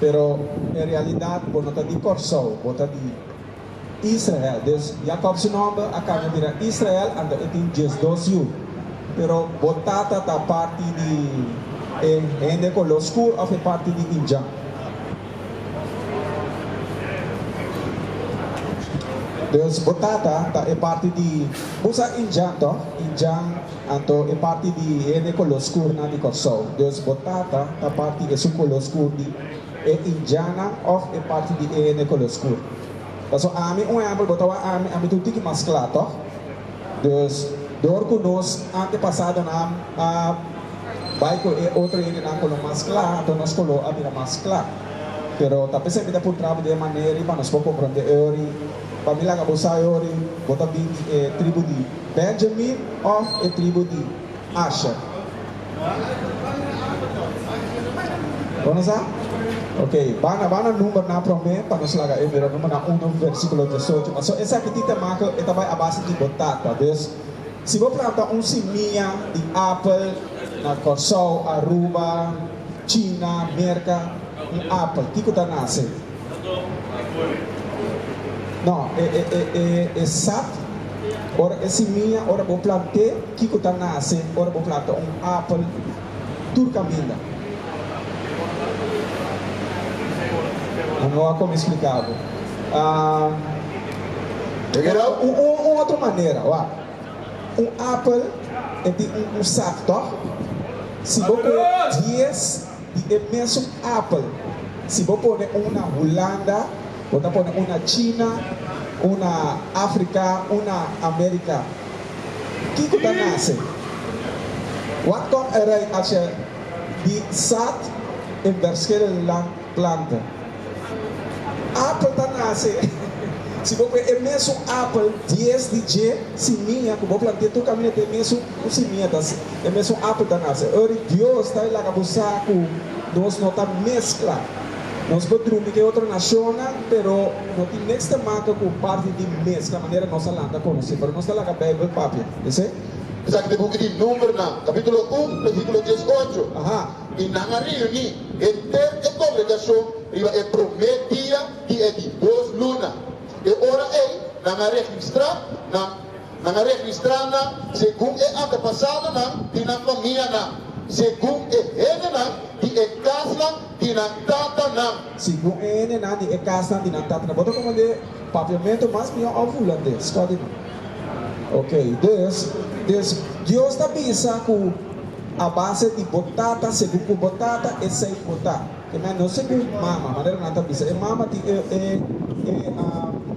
Pero e realidad bo no ta di Kòrsou, bo ta di Israel. Dus Jakob su nòmber a kambia bira Israel anto e tin diesdos yu. Pero bo tata ta parti di e hende koló skur òf e parti di Injan? Dus bo tata ta e parti di, bo sa Injan tòg? Injan. Anto e parti di hende color skur nan di Kòrsou, Dios bo Tata ta parti esun color skur di e Indianan of e parti di e hende color skur. Paso ami un ehempel bo ta wak ami, ami ta un tiki mas kla tòg? Dus dor ku nos antepasadonan a bai ku e otro hende nan ku lo mas kla, anto nos color a bira mas kla. Pero ta p'esei mi ta puntra bo di e manera i pa nos por kompronde e ori. Pa mi laga bo sa e ora ei, bo ta bin di e tribu di Benjamin of e tribu di Asher? Bo no sa? Ok, ba na ba na numbernan prome pa nos laga e mira Numbernan uno versikulo diesocho. Paso esaki tin te make e ta bai a base di bo tata. Dus, si bo planta un simia di apel na Kòrsou, Aruba, China, Merka, un apel, kiko ta nase? No, e e e e e sat ora e simia ora bo plant'e kiko ta nase ora bo planta un apel tur kaminda. A no a komi splika bo. Ahh Ora un un un otro manera wak. Un apel e tin un un sat tòg? Si bo kue dies. di e mesun apel. Si bo pone un na Hulanda, bo ta pone un na China, un na Africa, un na America. Kico ta nace? Wat kom e rei a ce di saad en verschillende land planten? Apel ta nace si bo pue e mesun apel dies di dje simiña cu bo plantea tur camina te e mesun. Ku si mia ta si, e mesun apu ta nase. Ori Dios ta e laga bo sa ku nos no ta meskla. Nos por drumi ku e otro nashonnan, pero no tin niks ta maka ku parti di meskla manera nos a lanta konosí. Pero nos ta laga Beibel papia. Esei. Esaki ta e buki di Numbernan, kapítulo un, bersíkulo dies i ocho. I nan a reuní henter e kongregashon riba e promé dia di e di dos luna. E ora ei nan a registrá nan. Nan a registrá nan segun e antepasadonan di nan famianan, segun e hendenan di e kasnan di nan tatanan. Segun e hendenan di e kasnan di nan tatanan. Bo ta komand'é papiamentu mas mihó òf hulandes? Kòl di nan? Oke, dus, dus Dios ta bisa ku a base di bo tata segun ku bo tata esei bo ta. E nan no segun e mama, manera nan ta bisa. E mama tin e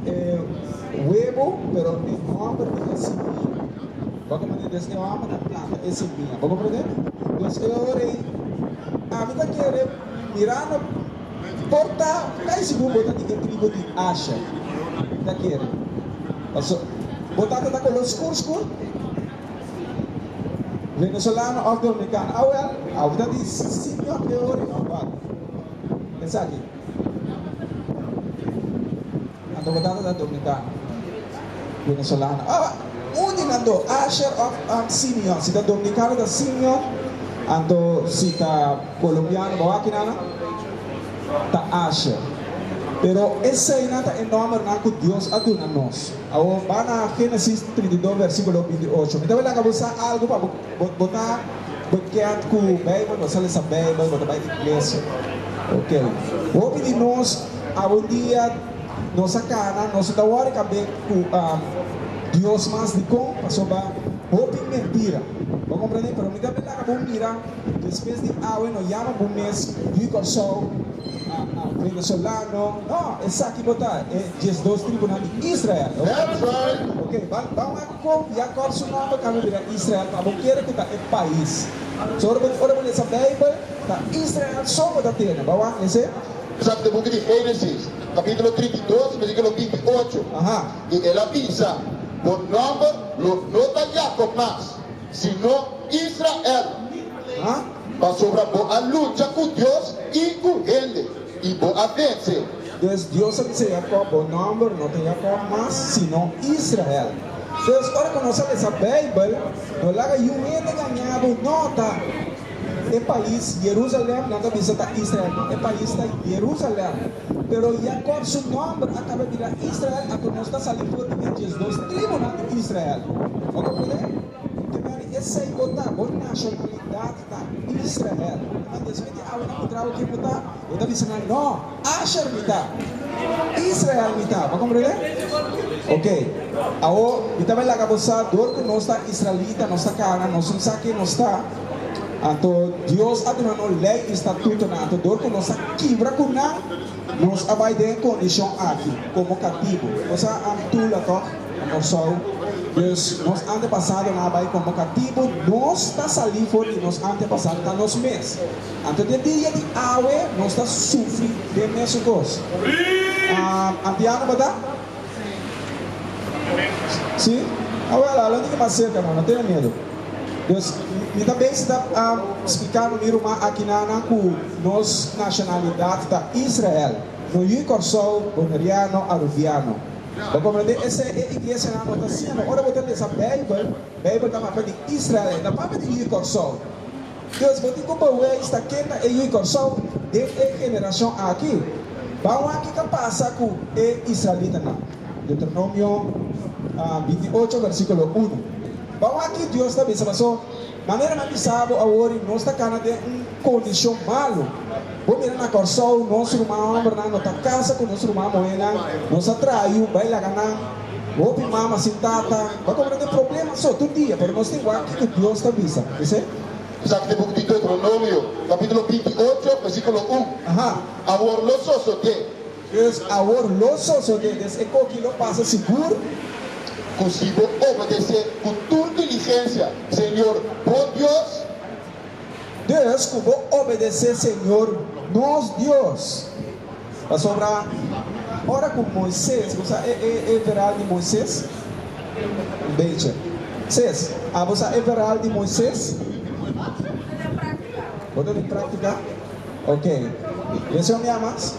e webo, pero e homber tin e simia. Bo a komprende? Des e homber ta planta e simia. Bo komprende? Pues e ora ei ami ta kere mira no porta kai si bo ta di e tribu di Asher. Mi ta kere. Paso bo tata ta color skur skur. Venezolano of Dominikano? A wel, awe ta di Siñor de Orin of wak? Esaki. Anto bo tata ta Dominikano? Venezolano? Awe, un di nan dos, Asher of Simeon. Si ta Dominikano ta Simeon, anto si ta Colombiano bo wak kinan? Ta Asher. Pero eseinan ta e nombernan ku Dios a duna nos. Awor, bai na Génesis trinta i dos versíkulo binti i ocho. Mi ta bai laga bo sa algu pa bo, bo, bo ta bekend ku Beibel, bo sa lesa Beibel, bo ta bai iglesia. Oke. Hopi di nos abundia nos a kana, nos no ta wòrdu i kab'é ku Dios mas dikon, pasobra hopi mentira. Bo a komprendé? Pero mi ta bai laga bo mira, despues di awe no yama bo mes yu i Kòrsou, a, a, venezolano. No, esaki bo ta e. diesdos tribunal di Israel. That's right! Ok, ban ban a kompia kòp su nòmber ta haña bira Israel pa bo kere ku ta e pais. So ora bo ora bo lesa Beibel, ta Israel so bo ta tene. Bo a wak mester? Sa di buki di Génesis, kapítulo trinta i dos, versíkulo binti i ocho, Aha. i el a bisa, Bo nòmber lo no ta Yakòb mas, sino Israel, Aha. pasobra bo a lucha ku Dios i ku hende. I bo a vence. Pues Dios a bisa Jacob, Bo nomber no ta Jacob mas, sino Israel. Pues, ora cu nos a lesa Bijbel, no laga yu hende engaña bo, no ta e pais Jerusalem, nan ta bisa ta Israel, no, e pais ta Jerusalem. Pero Jacob su nomber a caba bira Israel, anto nos ta sali for di e diesdos tribunan di Israel. Bo ta pone? Tema di esei bo ta, bo nashonalidat ta Israel. Unda mi a sibi di awe nan ku traha okin mi ta? E ta bisa nan, No, Asher mi ta, Israel mi ta. Bo a komprende? Oke, awo mi ta bai laga bo sa, dor ku nos ta israelita, nos ta kana, nos tin sa ke nos ta, anto Dios a duna nos lei i statutonan. Anto dor ku nos a kibra ku nan, nos a bai den e kondishon aki, komo katibu. Bo sa, Antula tòg? Na Kòrsou, dus nos antepasadonan a bai konboká tibu, nos ta salí for di nos antepasado ta nos mes. Anto den dia di awe nos ta sufri den mesun kos. Antiano bata? Sí? Awèl, a londi ki mas serka nan, no tenga miedu. Dus, mi ta bai si ta spliká no mi ruman akinanan ku nos nashonalidat ta Israel. No yu i Kòrsou, Boneriano, Aruviano. Bo komprendé? Esei e iglesianan bo ta hasiendo. Ora bo ta lesa Beibel, Beibel ta mapa di Israel, na papia di Hui Kòrsou. Dus, bo tin ku baweis ta ken ta e Hui Kòrsou den e generashon aki. Baunan ke ka pasa ku e israelitanan? Deuteronomio binti ocho, versíkulo unu. Baunan ki Dios ta bisa paso Manera nan bisa bo awor y nos ta cana den un condicion malo. Bo mira na Corsou nos ruman hombernan no ta casa cu nos ruman muhernan, nos a trayu, bay laga nan, hopi mama sin tata, bay como nan tin probleman so tur dia, pero nos tin wak kico Dios ta bisa, esey. Esaki ta book di Deuteronomio, capitulo binti ocho, versiculo un, Awor lo sosode. Deus awor lo sosode des e koki lo pasa sigur. Ku si bo obedes'é ku tur diligensia Señor, bo Dios. Deus ku bo obedes'é Señor, nos Dios. Pasobra ora ku Moises, bo sa e veral di Moises? Un bechi. Ses, abo sa e veral di Moises? Bo ta di praktika. Ok. Deseo mia mas.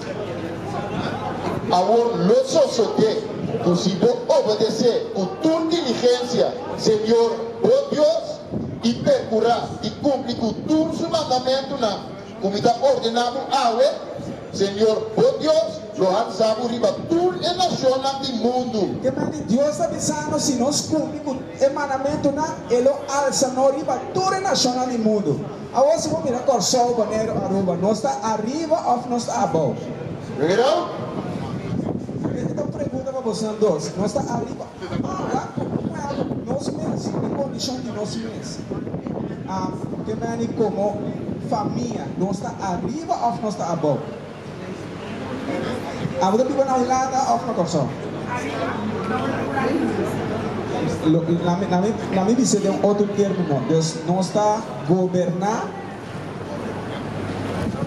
Awor lo sosodé ku si bo obedesé ku tur diligensia Señor bo Dios i perkurá di kumpli ku tur su mandamentunan ku mi ta ordená bo awe, Señor bo Dios lo hansa bo riba tur e nashonnan di mundu. Ke mai di Dios ta bisa nos? Si nos kumpli ku e mandamentunan, e lo alsa nos riba tur e nashonnan di mundu. Awor si bo mira Kòrsou, Boneiru, Aruba, nos ta ariba òf nos ta abou? Mira! Esaki ta un pregunta pa bosonan dos. Nos ta ariba? Abawa? Ku kue abo? Nos mes, den kondishon di nos mes. Ke mani komo famia, nos ta ariba òf nos ta abou? Abo ta biba na un lata of na Kòrsou? Na mi bisa den otro termo no. Dios nos ta goberna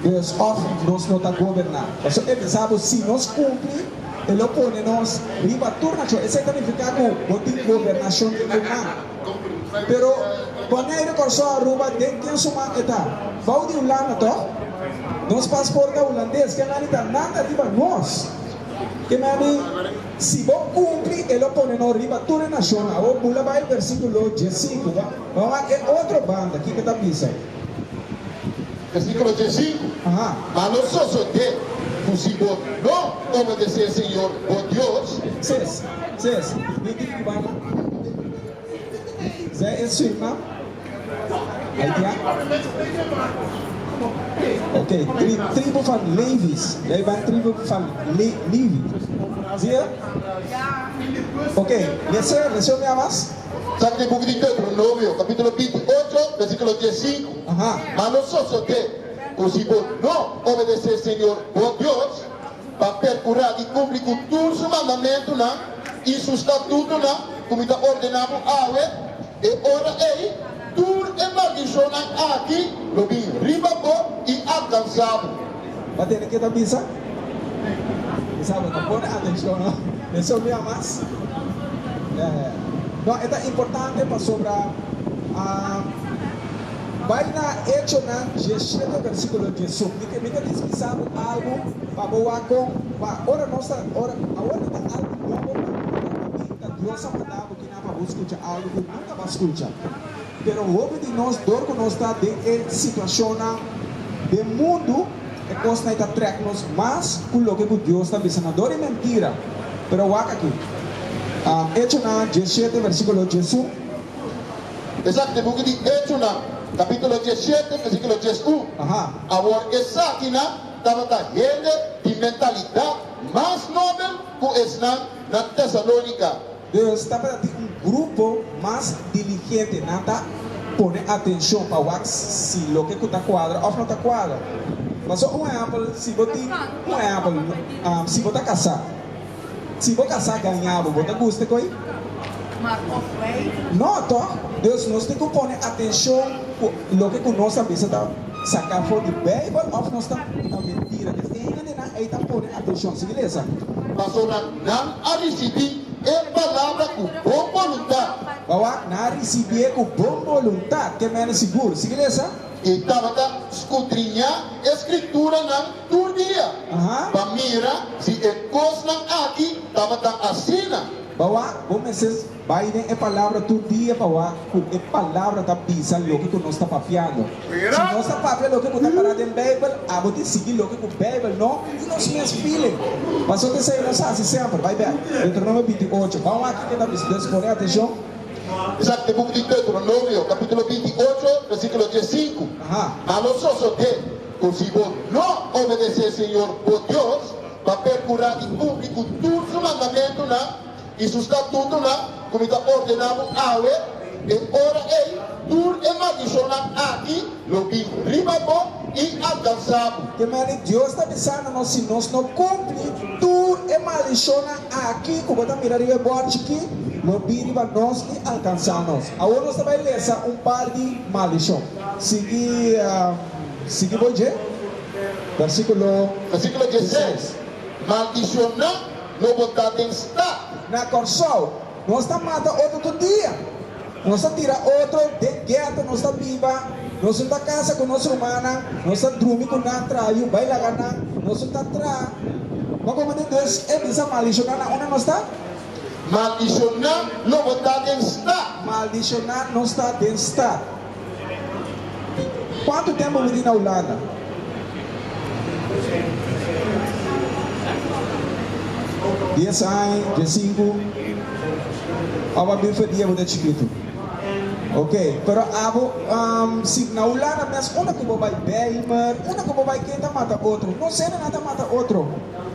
Dios of nos no ta goberna. Paso e bisa bo si nos cumpli e lo pone nos riba tur nacion. Esey ta nifica cu bo tin gobernashon den bo man. Pero Bonei de Kòrsou Aruba den ken su man e ta? Bou di Hulanda to? Nos pasport ta hulandes, ke nan di ta nada riba nos. Ke me a di, si bo kumpli e lo pone no riba tur e nashon. Awor bula bai versikulo djesinku, ba bai e otro banda, kiko ta bisa. Versíkulo trè sinku, Ma lo sosodé ku si bo no obedesé señor bo Dios. Ses, ses, mi tin ku bala. Zé e suirman haitian. Ok, tri, tribu van Levis. Lei ban tribu van Le, Livi. Zie? Ok, lese, lese un bia mas. Sa kib'e buki di Deuteronomio, kapítulo binti i ocho, bèrsikulo dies i sinku? Mas lo sosodé ku si bo no obedesé Señor bo Dios, pa perkurá di kumpli ku tur su mandamentunan i su statutonan ku mi ta ordená bo awe, e ora ei, Tur e maldishonnan aki lo bin riba bo i alkansa bo. Bo tene ke ta bisa, Kisa bo ta pone atencion no? Esun mia mas. No, e ta importante pasobra bai na Hechonan diesshete versiculo diesun. Mi ke mi ke dispisa bo algu pa bo wak con, pa ora nos ta, ora, awor no ta algu nobo pa bo wak con, mi ta Dios a manda bo. A pa bo skucha algu ku no ta ba skucha. Pero hopi di nos dor ku nos ta den e situashonnan den mundu, e kosnan ei ta trèk nos mas ku loke ku Dios ta bisa nan. Dor i mentira. Pero wak aki. Echonan diesshete versíkulo diesun. Esaki ta e buki di Echonan, kapítulo diesshete, versíkulo diesun. Awor esakinan tabata hende di mentalidat mas nobel ku esnan na Tesalónika. Deus ta para tin un grupo mas diligente, nan ta pone atencion pa wak si loke cu ta cuadra of no ta cuadra. Pasobra un ehempel, si bo tin un ehempel, si bo ta casá, si bo casá gaña bo, bo ta guste cu ey? No toch? Deus nos tin cu pone atencion cu loke cu nos a bisa ta saca for di Bijbel of nos ta ta mentira. Esnan hende ey ta pone atencion. Sigui lesa. Nan a risibí e palabra ku bon boluntat. Bawa, nan a risibié ku bon boluntat, ke mene sigur. Sigui lesa. I tabata skudriñá e Skrituranan tur dia, pa mira si e kosnan aki tabata asina. Bawa, bo mester. Bai den e palabra tur dia pa wak ku e palabra ta bisa loke ku nos ta papiando. Si nos ta papia loke ku ta pará den Beibel, abo tin sigui loke ku Beibel, no ku nos mes feeling. Pasobra di esei nos hasi semper. Bai bèk Deuteronomio binti i ocho. Ban wak kiko ta bisa. Nos pone atenshon. Esaki e buki di Deuteronomio kapítulo binti i ocho, vèrsikulo dies sinku, A lo sosodé ku si bo no obedesé Señor bo Dios pa perkurá di kumpli ku tur su mandamentunan, I su statutnan, ku mi ta ordená bo awe, e ora ei tur e maldishonnan aki lo bin riba bo i alkansá bo. Te mane Dios ta bisa na nos, si nos no kumpli, tur e maldishonnan aki ku bo ta mira riba e bòrchi ki, lo bin riba nos i alkansá nos. Awor nos ta bai lesa un par di maldishon. Sigui, sigui bo dje, vèrsíkulo dieseis. Vèrsíkulo dieseis, Maldishonnan No bo ta den stad. Na Kòrsou nos ta mata otro tur dia, nos ta tira otro den gèta, nos ta biba, nos no ta kasa ku nos rumannan, nos ta drumi ku nan, traha yu bai laga nan, nos no ta traha. Pa kome di Deus e bisa maldishoná nan unda nos ta? Maldishoná no bo ta den stad. Maldishoná no sta den stad. Kuantu tempu mi tin na Hulanda? Dies aña, dia sinku. Abo a bin for di abo ta chikitu. Ok, pero abo si na Hulanda mes unda ku bo bai Bijlmer, unda ku bo bai ken ta mata otro? No sende nan ta mata otro.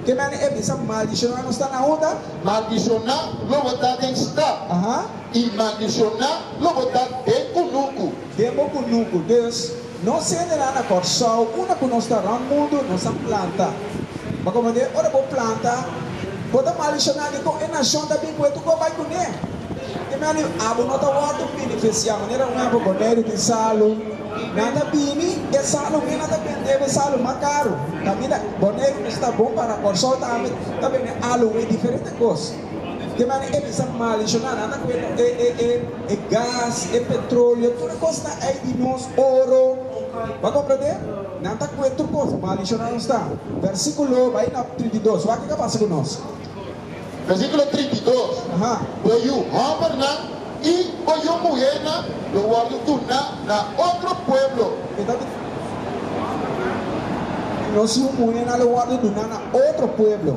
Ke mene e bisa maldishoná? Nos ta na unda? Maldishoná lo bo ta den stap. I maldishoná lo bo ta den ku nuku. Den bo ku nuku. Dus, nos hende nan na Kòrsou, unda ku nos ta rònt mundu, nos a planta. Pa kòmò de, ora bo planta, bo ta maldishoná dikon e nashon ta bin ku e tukua bai kuné. E mi a di, Abo no ta wòrdu benefisiá. Manera un hèmper bo medio di salu. Nan ta bini, e salu mi nan ta bende bo e salu mas karu. Kaminda bo neru ku sta bon para Kòrsou tambe ta bini alu un e diferente kos. Di manera e bisa malicionanan, nan ta cuenta e, e, e, e gas, e petroleo, tur e cosnan ey di nos, oro. Bo a comprende? Nan ta cue tur cos, malicionan nos ta. Versiculo, bay na trinta i dos, wak kico a pasa cu nos? Versiculo trinta i dos, Aha. Bo yu hombernan y bo yu muhernan lo wordo duna na otro pueblo. E ta di, Nos yu muhernan lo wordo duna na otro pueblo.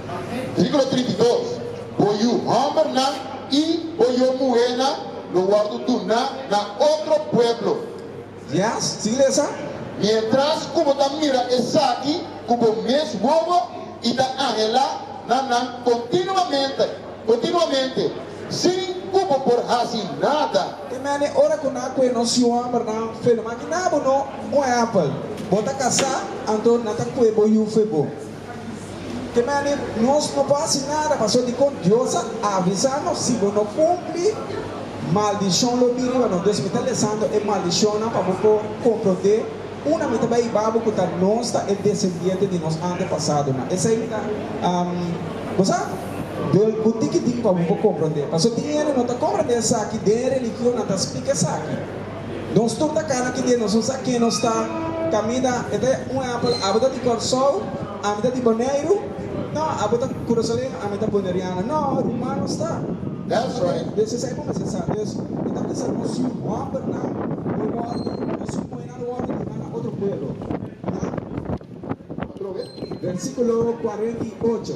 Versíkulo trinta i dos, Bo yu hòmbernan i bo yu muhénan lo wòrdu duná na otro pueblo. Dies, Sigue lesa. Miéntras ku bo ta mira esaki ku bo mes wowo i ta anhelá na nan kontinuamente, kontinuamente, sin ku bo por hasi nada. E mene ora ku nan kue nos yu hòmbernan fe'l, maki na bo no. Un ehèmpel, bo ta kasá, anto nan ta kue bo yu fe bo. Te mane nos no por hasi nada pasobra dikon Dios a avisa nos, si bo no kumpli, maldishon lo bin riba nos. Dios, mi ta lesando e maldishonnan pa bo por komprondé unda mi ta bai i babo ku ta nos ta e desendiente di nos antepasadonan. Esei mi ta gosa del ku tiki tiki pa bo por komprondé, pasobra tin hende no ta komprondé esaki, den e religionnan ta splika esaki. Nos tur ta kana ki dje nos un sa ken nos ta. Caminda e ta un ehempel, abo ta di Corsou, ami ta di Boneiru, no, abo ta Curasoleño, ami ta Boneriano, no, ruman nos ta. That's right. Des esei bo mester sa. Des e ta bisa nos si hòmbernan lo wòrdu o si muhenan lo wòrdu di hana otro pueblo. Otro be. Versículo cuarenta i ocho.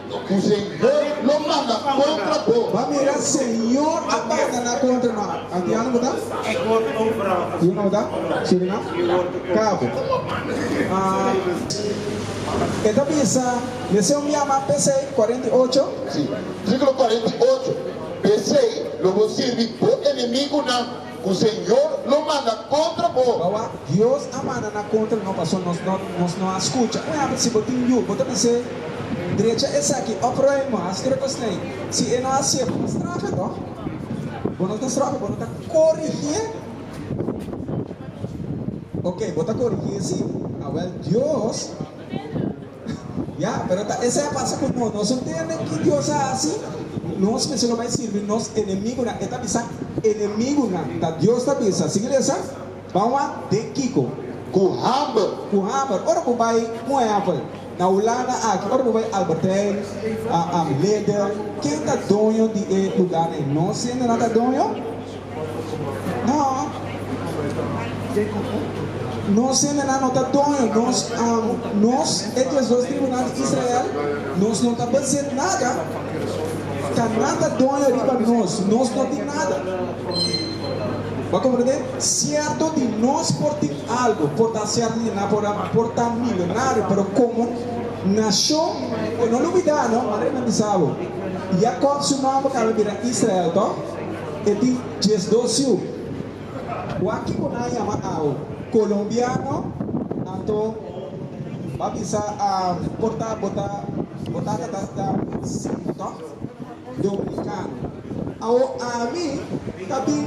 Cu Señor lo manda contra bo. Bo a mira, Señor a banda na contra no. Antiano bo ta? Yu no bo ta? Surinam? Cabo. Ah, e ta bisa, Mester un biaman pesey, cuarenta y ocho. Si, versiculo cuarenta y ocho, Pesey lo bo sirbi bo enemigunan. Ku Señor lo manda kontra bo. Bawa Dios a manda nan kontra no paso nos no nos no a skucha. Ku hende si bo tin yu bo ta bis'é, Drecha esaki òf ròi mo a skere pa snei. Si e no a hasié bo ta straf'é tò? Bo no ta straf'é, bo no ta korigié. Oke bo ta korigié si, awèl Dios. Ya, pero ta esei a pasa ku nos. Nos ntende ki Dios a hasi nos mester lo bai sirbi nos enemigunan. E ta bisa, Enemigunan ta Dios ta bisa. Sigui lesa, Ban wak den kiko? Ku hamber. Ku hamber. Ora bo bai, un ehèmpel, na Hulanda aki, ora bo bai Albert Heijn, Lidl, ken ta doño di e luganan? Nos hendenan ta doño. Nos hendenan no ta doño nos amo, nos e tres dos tribunal di Israel, nos no ta bezit nada, Canaan ta doño riba nos, nos no tin nada. Bo a comprende? Cierto di nos por tin algo, por ta cierto di nan por a por ta milionario, pero como nacion, e no lo bida no, Manera mi bisa bo, Jacob su mambo cambia bira Israel, to? E tin diesdos yu. Wak ki bo nan yama awo? Colombiano? Anto ba bisa am por ta bo ta bo tata ta ta sino to Dominicano. Awo ami ta bin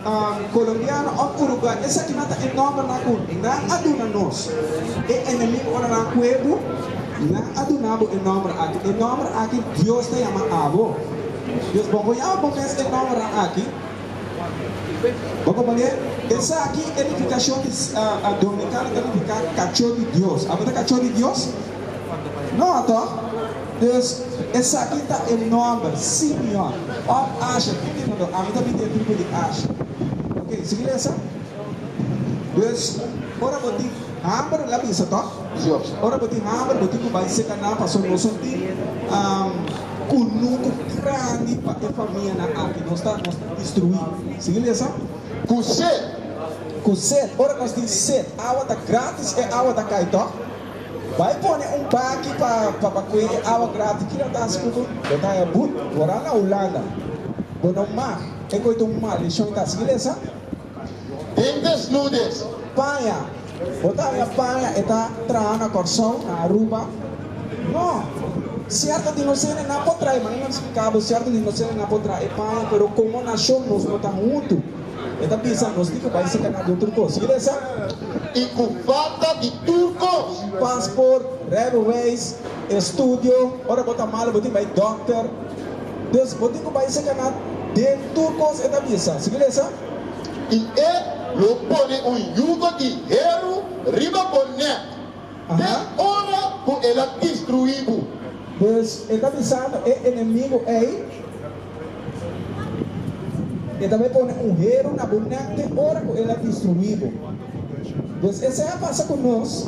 am Colombiano of Uruguay esaki nan ta e nomber nan ku nan a duna nos. E enemigo ora nan kue bo nan a duna bo e nomber aki. E nomber aki Dios ta yama abo. Dios bo koyao bo mes e nomra aki. Bo komprendié? Esaki e nifikashon di Dominikano ta nifiká kachó di Dios. Abo ta kachó di Dios? No atò? Dus, esaki ta e nòmber, Simeon òf Asher. Ki tipo do? Ami ta bin den tribu di Asher. Oke, sigui lesa. Dus, ora bo tin hamber, la bisa tòg? Ora bo tin hamber, bo tin ku bai seka nan, pasobra nos no tin. Ku number grandi pa e famianan aki nos ta instruí. Sigui lesa. Ku set. Ku set. Ora nos tin set, awa ta gratis, e awa ta kai tòg. Bai pone un baki pa bakue e awa gratis. Kila ta hasi ku bo? Bo ta haña but. Bo ran na Hulanda. Bo no mag. E koe ta un maldision ta. Sigui lesa. Den desnudez, paña, bo ta haña paña e ta traha na Kòrsou, na Aruba? No. Sierto di nosenan nan por traha, mananan spliká bo, sierto di nosenan nan por traha e paña, pero komo nashon nos no ta huntu. E ta bisa nos di ku bai sika nan di otro kos. Yira esei? I ku falta di tur kos. Pasport, rijbewijs, estudio, ora bo ta malu bo tin bai dòkter. Pues, bo tin cu bay secaná den tur cos, e ta bisa. Sigui lesa. I e lo pone un yugo di heru riba bo nek, den ora cu el a distruí bo. Pues, e ta bisando e enemigo ey, E ta bay pone un heru na bo nek den ora cu el a distruí bo. Pues, esei a pasa cu nos.